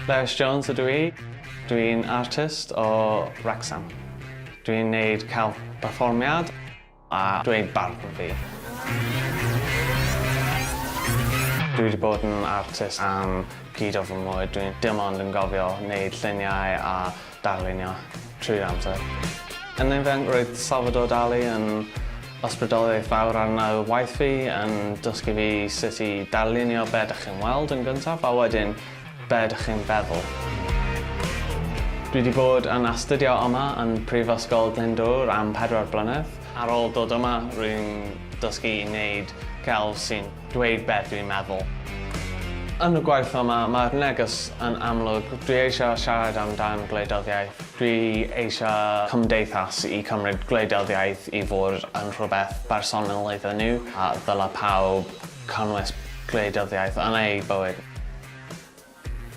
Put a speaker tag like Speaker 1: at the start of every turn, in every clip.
Speaker 1: Lewis Jones ydw i. Dw i'n artist o Wrecsam. Dw i'n neud celf perfformiad a dweud barn fi. Dw i wedi bod yn artist am pryd o fy mywyd. Dw i dim ond yn gofio neud lluniau a darlunio trwy'r amser. Yn ifanc roedd Salvador Dali yn ysbrydoliaeth fawr arnaf waith fi, yn dysgu fi sut i darlunio be dych chi'n weld yn gyntaf a wedyn be dych chi'n feddwl. Dwi wedi bod yn astudio yma yn Prifysgol Glyndŵr am pedwar blynedd. Ar ôl dod yma rwy'n dysgu i wneud celf sy'n dweud beth dwi'n meddwl. Yn y gwaith yma, mae'r neges yn amlwg, dwi eisiau siarad amdan gwleidyddiaeth, dwi eisiau cymdeithas i cymryd gwleidyddiaeth i fod yn rhywbeth bersonol iddyn nhw, a ddyla pawb cynnwys gwleidyddiaeth yn eu bywyd.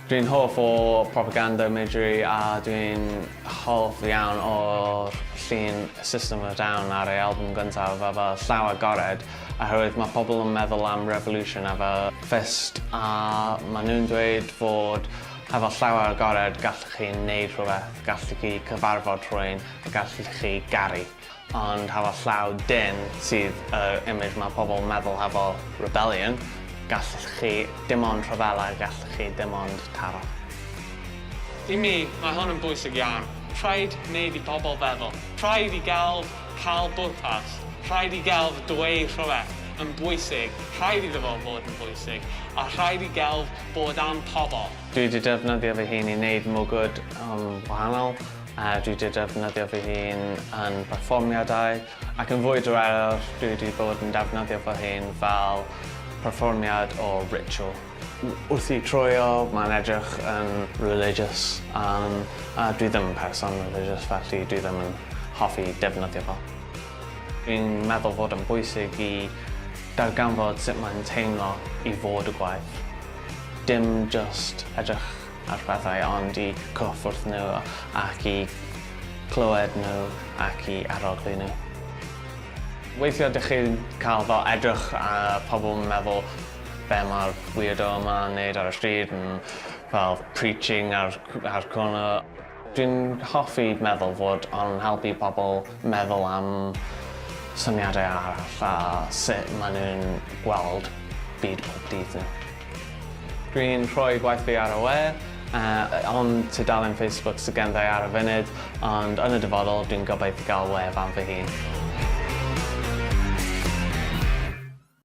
Speaker 1: Dwi'n hoff o propaganda Midgery a dwi'n hoff iawn o'r llun System of a Down ar ei albwm gyntaf a fel llaw agored oherwydd mae pobl yn meddwl am revolution a fel fist a maen nhw'n dweud fod hefo llaw agored gallwch chi wneud rhywbeth, gallwch chi cyfarfod rhywun a gallwch chi garu. Ond hefo llaw dynn sydd yr image mae pobl yn meddwl hefo rebellion, gallwch chi dim ond rhyfela, gallwch chi dim ond taro. I mi, mae hwn yn bwysig iawn. Rhaid wneud i bobl feddwl. Rhaid i gelf cael bwrpas. Rhaid i gelf dweud rhywbeth yn bwysig, rhaid iddo fo fod yn bwysig, a rhaid i gelf bod am pobl. Dwi 'di defnyddio fy hun i wneud mwgwd yn wahanol, a dwi wedi defnyddio fy hun yn perfformiadau ac yn fwy diweddar dwi wedi bod yn defnyddio fy hun fel perfformiad o ritual. Wrth i troio mae'n edrych yn religious um, a dwi ddim yn person religious felly dwi ddim yn hoffi defnyddio fo. Dwi'n meddwl fod yn bwysig i darganfod sut mae'n teimlo i fod y gwaith. Dim just edrych ar pethau ond i cyffwrdd nhw ac i clywed nhw ac i arogli nhw. Weithiau dych chi'n cael fel edrych a pobl yn meddwl be mae'r weirdo yma yn neud ar y stryd yn fel preaching ar, ar corner. Dwi'n hoffi meddwl fod o'n helpu pobl meddwl am syniadau arall a sut maen nhw'n gweld byd pob dydd nhw. Dwi'n rhoi gwaith fi ar y we, ond tudalen Facebook sydd ganddo i ar y funud, ond yn y dyfodol dwi'n gobeithio gael wefan fy hun.